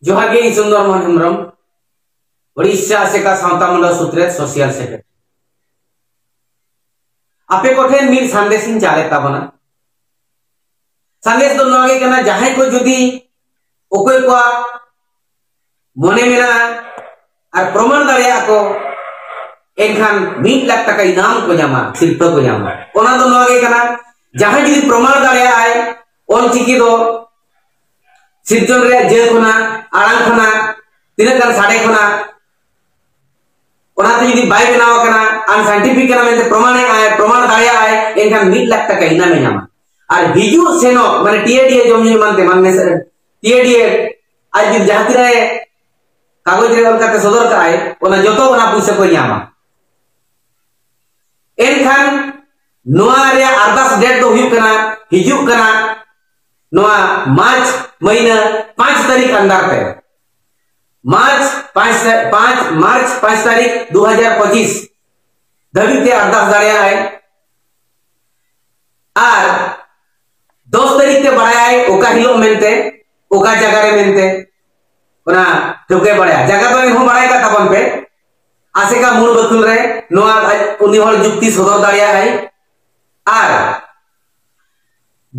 ᱡᱚᱦᱟᱨ ᱜᱮ ᱪᱚᱱᱫᱚᱨ ᱢᱳᱦᱚᱱ ᱦᱮᱢᱵᱨᱚᱢ ᱳᱰᱤᱥᱟ ᱟᱥᱮᱠᱟ ᱥᱟᱶᱛᱟ ᱢᱚᱱᱰᱚᱞ ᱥᱩᱛᱨᱮᱛ ᱥᱳᱥᱤᱭᱟᱞ ᱥᱮᱠᱨᱮᱴᱟᱨᱤ ᱟᱯᱮ ᱠᱚᱴᱷᱮᱱ ᱢᱤᱫ ᱥᱟᱸᱫᱮᱥ ᱤᱧ ᱪᱟᱞᱮᱫ ᱛᱟᱵᱚᱱᱟ ᱥᱟᱸᱫᱮᱥ ᱫᱚ ᱱᱚᱣᱟ ᱜᱮ ᱠᱟᱱᱟ ᱡᱟᱦᱟᱸᱭ ᱠᱚ ᱡᱩᱫᱤ ᱚᱠᱚᱭ ᱠᱚᱣᱟᱜ ᱢᱚᱱᱮ ᱢᱮᱱᱟᱜᱼᱟ ᱟᱨ ᱯᱨᱚᱢᱟᱱ ᱫᱟᱲᱮᱭᱟᱜ ᱠᱚ ᱮᱱᱠᱷᱟᱱ ᱢᱤᱫ ᱞᱟᱠᱷ ᱴᱟᱠᱟ ᱤᱱᱟᱢ ᱠᱚ ᱧᱟᱢᱟ ᱥᱤᱨᱯᱟᱹ ᱠᱚ ᱧᱟᱢᱟ ᱚᱱᱟ ᱫᱚ ᱱᱚᱣᱟ ᱜᱮ ᱠᱟᱱᱟ ᱡᱟᱦᱟᱸᱭ ᱡᱩᱫᱤ ᱯᱨᱚᱢᱟᱱ ᱫᱟᱲᱮᱭᱟᱜ ᱟᱭ ᱚᱞ ᱪᱤᱠᱤ ᱫᱚ ᱥᱤᱨᱡᱚᱱ ᱨᱮᱭᱟᱜ ᱡᱟᱹ ᱠᱷᱚᱱᱟᱜ ᱟᱲᱟᱝ ᱠᱷᱚᱱᱟᱜ ᱛᱤᱱᱟᱹᱜ ᱜᱟᱱ ᱥᱟᱰᱮ ᱠᱷᱚᱱᱟᱜ ᱚᱱᱟᱛᱮ ᱡᱩᱫᱤ ᱵᱟᱭ ᱵᱮᱱᱟᱣ ᱠᱟᱱᱟ ᱟᱱ ᱥᱟᱭᱮᱱᱴᱤᱯᱷᱤᱠ ᱠᱟᱱᱟ ᱢᱮᱱᱛᱮ ᱯᱨᱚᱢᱟᱱ ᱟᱭ ᱯᱨᱚᱢᱟᱱ ᱫᱟᱲᱮᱭᱟᱜ ᱟᱭ ᱮᱱᱠᱷᱟᱱ ᱢᱤᱫ ᱞᱟᱠᱷ ᱴᱟᱠᱟ ᱤᱱᱟᱢᱮ ᱧᱟᱢᱟ ᱟᱨ ᱦᱤᱡᱩᱜ ᱥᱮᱱᱚᱜ ᱢᱟᱱᱮ ᱴᱤᱭᱮᱰᱤᱭᱮ ᱡᱚᱢ ᱧᱩ ᱮᱢᱟᱱ ᱛᱮᱢᱟᱱ ᱢᱮᱥᱟ ᱴᱤᱭᱮᱰᱤᱭᱮ ᱟᱡ ᱡᱩᱫᱤ ᱡᱟᱦᱟᱸ ᱛᱤᱱᱟᱹᱜ ᱠᱟᱜᱚᱡᱽ ᱨᱮ ᱚᱞ ᱠᱟᱛᱮ ᱥᱚᱫᱚᱨ ᱠᱟᱜ ᱟᱭ ᱚᱱᱟ ᱡᱚᱛᱚ ᱚᱱᱟ ᱯᱩᱭᱥᱟᱹ ᱠᱚ ᱧᱟᱢᱟ ᱮᱱᱠᱷᱟᱱ ᱱᱚᱣᱟ ᱨᱮᱭᱟᱜ ᱟᱨᱫᱟᱥ ᱰᱮᱴ ᱫᱚ ᱦᱩᱭᱩᱜ ᱠᱟᱱᱟ ᱦᱤᱡᱩᱜ ᱠᱟᱱᱟ ᱱᱚᱣᱟ ᱢᱟᱨᱪ ᱢᱟᱹᱦᱤᱱᱟᱹ 5 ᱛᱟᱹᱨᱤᱠᱷ ᱟᱱᱫᱟᱨ ᱛᱮ ᱢᱟᱨᱪ 5 5 ᱢᱟᱨᱪ 5 ᱛᱟᱹᱨᱤᱠᱷ 2025 ᱫᱷᱟᱹᱵᱤᱡ ᱛᱮ ᱟᱨᱫᱟᱥ ᱫᱟᱲᱮᱭᱟᱜ ᱟᱭ ᱟᱨ 10 ᱛᱟᱹᱨᱤᱠᱷ ᱛᱮ ᱵᱟᱲᱟᱭ ᱚᱠᱟ ᱦᱤᱞᱳᱜ ᱢᱮᱱᱛᱮ ᱚᱠᱟ ᱡᱟᱭᱜᱟ ᱨᱮ ᱢᱮᱱᱛᱮ ᱚᱱᱟ ᱴᱷᱟᱹᱣᱠᱟᱹᱭ ᱵᱟᱲᱟᱭᱟ ᱡᱟᱭᱜᱟ ᱫᱚ ᱮᱱᱦᱚᱸ ᱵᱟᱲᱟᱭ ᱠᱟᱜ ᱛᱟᱵᱚᱱ ᱯᱮ ᱟᱥᱮᱠᱟ ᱢᱩᱬ ᱵᱟᱹᱛᱩᱞ ᱨᱮ ᱱᱚᱣᱟ ᱟᱡ ᱩᱱᱤ ᱦᱚᱲ ᱡᱩᱠᱛᱤ ᱥᱚᱫᱚᱨ ᱫᱟᱲᱮᱭᱟᱜᱼᱟᱭ ᱟᱨ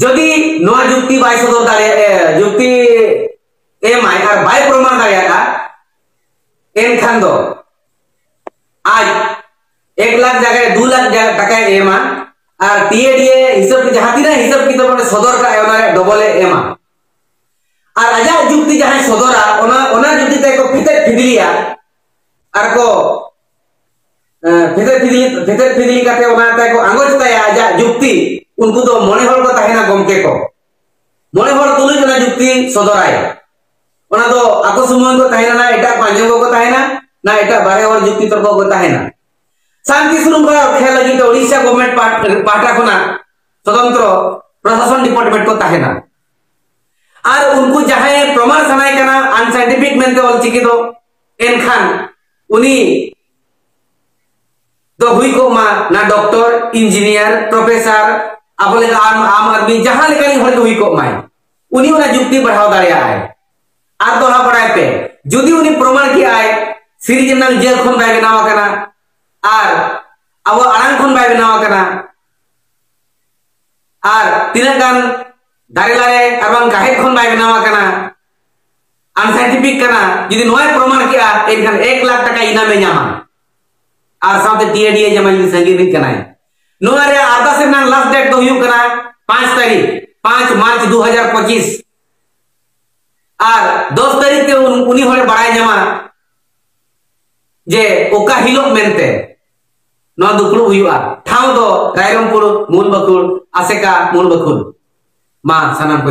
ᱡᱩᱫᱤ ᱱᱚᱣᱟ ᱡᱩᱠᱛᱤ ᱵᱟᱭ ᱥᱚᱫᱚᱨ ᱫᱟᱲᱮᱭᱟᱜᱼᱟ ᱡᱩᱠᱛᱤ ᱮᱢᱟᱭ ᱟᱨ ᱵᱟᱭ ᱯᱨᱚᱢᱟᱱ ᱫᱟᱲᱮᱭᱟᱜᱼᱟ ᱮᱱᱠᱷᱟᱱ ᱫᱚ ᱟᱡ ᱮᱠ ᱞᱟᱠᱷ ᱡᱟᱭᱜᱟ ᱫᱩ ᱞᱟᱠᱷ ᱴᱟᱠᱟᱭ ᱮᱢᱟ ᱟᱨ ᱴᱤᱮᱰᱤᱮ ᱦᱤᱥᱟᱹᱵ ᱡᱟᱦᱟᱸ ᱛᱤᱱᱟᱹᱜ ᱦᱤᱥᱟᱹᱵ ᱠᱤᱛᱟᱹᱵ ᱚᱸᱰᱮ ᱥᱚᱫᱚᱨ ᱠᱟᱜᱼᱟᱭ ᱚᱱᱟ ᱨᱮ ᱰᱚᱵᱚᱞᱮ ᱮᱢᱟ ᱟᱨ ᱟᱡᱟᱜ ᱡᱩᱠᱛᱤ ᱡᱟᱦᱟᱸᱭ ᱥᱚᱫᱚᱨᱟ ᱚᱱᱟ ᱚᱱᱟ ᱡᱩᱠᱛᱤ ᱛᱮ ᱠᱚ ᱯᱷᱤᱛᱮᱫ ᱯᱷᱤᱫᱤᱞᱤᱭᱟ ᱟᱨ ᱠᱚ ᱯᱷᱤᱛᱮᱫ ᱯᱷᱤᱫᱤᱞᱤ ᱯᱷᱤᱛᱮᱫ ᱯᱷᱤᱫᱤᱞᱤ ᱠᱟᱛᱮ ᱚᱱᱟ ᱛᱮ ᱠᱚ ᱟᱸᱜᱚᱪ ᱛᱟᱭᱟ ᱟᱡᱟᱜ ᱡᱩᱠᱛᱤ ᱩᱱᱠᱩ ᱫᱚ ᱢᱚᱬᱮ ᱦᱚᱲ ᱠᱚ ᱛᱟᱦᱮᱱᱟ ᱜᱚᱢᱠᱮ ᱠᱚ ᱢᱚᱬᱮ ᱦᱚᱲ ᱛᱩᱞᱩᱡ ᱚᱱᱟ ᱡᱩᱠᱛᱤ ᱥᱚᱫᱚᱨᱟᱭ ᱚᱱᱟ ᱫᱚ ᱟᱠᱚ ᱥᱩᱢᱩᱝ ᱠᱚ ᱛᱟᱦᱮᱱᱟ ᱱᱟ ᱮᱴᱟᱜ ᱠᱚ ᱟᱸᱡᱚᱢ ᱠᱚ ᱛᱟᱦᱮᱱᱟ ᱱᱟ ᱮᱴᱟᱜ ᱵᱟᱨᱦᱮ ᱦᱚᱲ ᱡᱩᱠᱛᱤ ᱛᱚᱨᱠᱚ ᱠᱚ ᱛᱟᱦᱮᱱᱟ ᱥᱟᱱᱛᱤ ᱥᱩᱨᱩᱝ ᱠᱷᱚᱱᱟᱜ ᱠᱷᱮᱞ ᱞᱟᱹᱜᱤᱫ ᱛᱮ ᱳᱰᱤᱥᱟ ᱜᱚᱵᱷᱢᱮᱱᱴ ᱯᱟᱦᱴᱟ ᱠᱷᱚᱱᱟᱜ ᱛᱚᱫᱚᱱᱛᱨᱚ ᱯᱨᱚᱥᱟᱥᱚᱱ ᱰᱤᱯᱟᱨᱴᱢᱮᱱᱴ ᱠᱚ ᱛᱟᱦᱮᱱᱟ ᱟᱨ ᱩᱱᱠᱩ ᱡᱟᱦᱟᱸᱭ ᱯᱨᱚᱢᱟᱬ ᱥᱟᱱᱟᱭ ᱠᱟᱱᱟ ᱟᱱᱥᱟᱭᱮᱱᱴᱤᱯᱷᱤᱠ ᱢᱮᱱᱛᱮ ᱚᱞᱪᱤᱠᱤ ᱫᱚ ᱮᱱᱠᱷᱟᱱ ᱩᱱᱤ ᱫᱚ ᱦᱩᱭ ᱠᱚᱜ ᱢᱟ ᱱᱟ ᱰᱚᱠᱴᱚᱨ ᱤᱧᱡᱤᱱᱤᱭᱟᱨ ᱯᱨᱚᱯᱷᱮᱥᱟᱨ ᱟᱵᱚ ᱞᱮᱠᱟ ᱟᱢ ᱟᱢ ᱟᱫᱢᱤ ᱡᱟᱦᱟᱸ ᱞᱮᱠᱟᱱᱤᱡ ᱦᱚᱲ ᱜᱮ ᱦᱩᱭ ᱠᱚᱜ ᱢᱟᱭ ᱩᱱᱤ ᱚᱱᱟ ᱡᱩᱠᱛᱤ ᱵᱟᱲᱦᱟᱣ ᱫᱟᱲᱮᱭᱟᱜᱼᱟᱭ ᱟᱨ ᱫᱚᱦᱲᱟ ᱵᱟᱲᱟᱭ ᱯᱮ ᱡᱩᱫᱤ ᱩᱱᱤ ᱯᱨᱚᱢᱟᱬ ᱠᱮᱜᱼᱟᱭ ᱥᱤᱨᱡᱚᱱᱟᱞ ᱡᱮᱞ ᱠᱷᱚᱱ ᱵᱟᱭ ᱵᱮᱱᱟᱣ ᱟᱠᱟᱱᱟ ᱟᱨ ᱟᱵᱚ ᱟᱲᱟᱝ ᱠᱷᱚᱱ ᱵᱟᱭ ᱵᱮᱱᱟᱣ ᱟᱠᱟᱱᱟ ᱟᱨ ᱛᱤᱱᱟᱹᱜ ᱜᱟᱱ ᱫᱟᱨᱮ ᱞᱟᱨᱮ ᱟᱨ ᱵᱟᱝ ᱜᱟᱦᱮᱫ ᱠᱷᱚᱱ ᱵᱟᱭ ᱵᱮᱱᱟᱣ ᱟᱠᱟᱱᱟ ᱟᱱᱥᱟᱭᱮᱱᱴᱤᱯᱷᱤᱠ ᱠᱟᱱᱟ ᱡᱩᱫᱤ ᱱᱚᱣᱟᱭ ᱯᱨᱚᱢᱟᱬ ᱠᱮᱜᱼᱟ ᱮᱱᱠᱷᱟᱱ 1 ᱞᱟᱠᱷ ᱴᱟᱠᱟ ᱤᱱᱟᱢᱮ ᱧᱟᱢᱟ ᱟᱨ ᱥᱟᱶᱛᱮ ᱴᱤᱮᱰᱤ ᱮ ᱧᱟᱢᱟ ᱡᱩᱫᱤ ᱥᱟᱺᱜᱤᱧ ᱨᱤᱱ ᱠᱟᱱᱟᱭ ᱱᱚᱣᱟ ᱨᱮ ᱟᱨᱫᱟᱥ ᱨᱮᱱᱟᱜ ᱞᱟᱥᱴ ᱰᱮᱴ ᱫᱚ ᱦᱩᱭᱩᱜ ᱠᱟᱱᱟ 5 ᱛᱟᱹᱨᱤᱠᱷ 5 ᱢᱟᱨᱪ 2025 ᱟᱨ 10 ᱛᱟᱹᱨᱤᱠᱷ ᱛᱮ ᱩᱱᱤ ᱦᱚᱲᱮ ᱵᱟᱲᱟᱭ ᱧᱟᱢᱟ ᱡᱮ ᱚᱠᱟ ᱦᱤᱞᱳᱜ ᱢᱮᱱᱛᱮ ᱱᱚᱣᱟ ᱫᱩᱯᱲᱩᱵ ᱦᱩᱭᱩᱜᱼᱟ ᱴᱷᱟᱶ ᱫᱚ ᱨᱟᱭᱨᱚᱝᱯᱩᱨ ᱢᱩᱞ ᱵᱟᱹᱠᱩᱲ ᱟᱥᱮᱠᱟ ᱢᱩᱞ ᱵᱟᱹᱠᱩᱲ ᱢᱟ ᱥᱟᱱᱟᱢ ᱠᱚ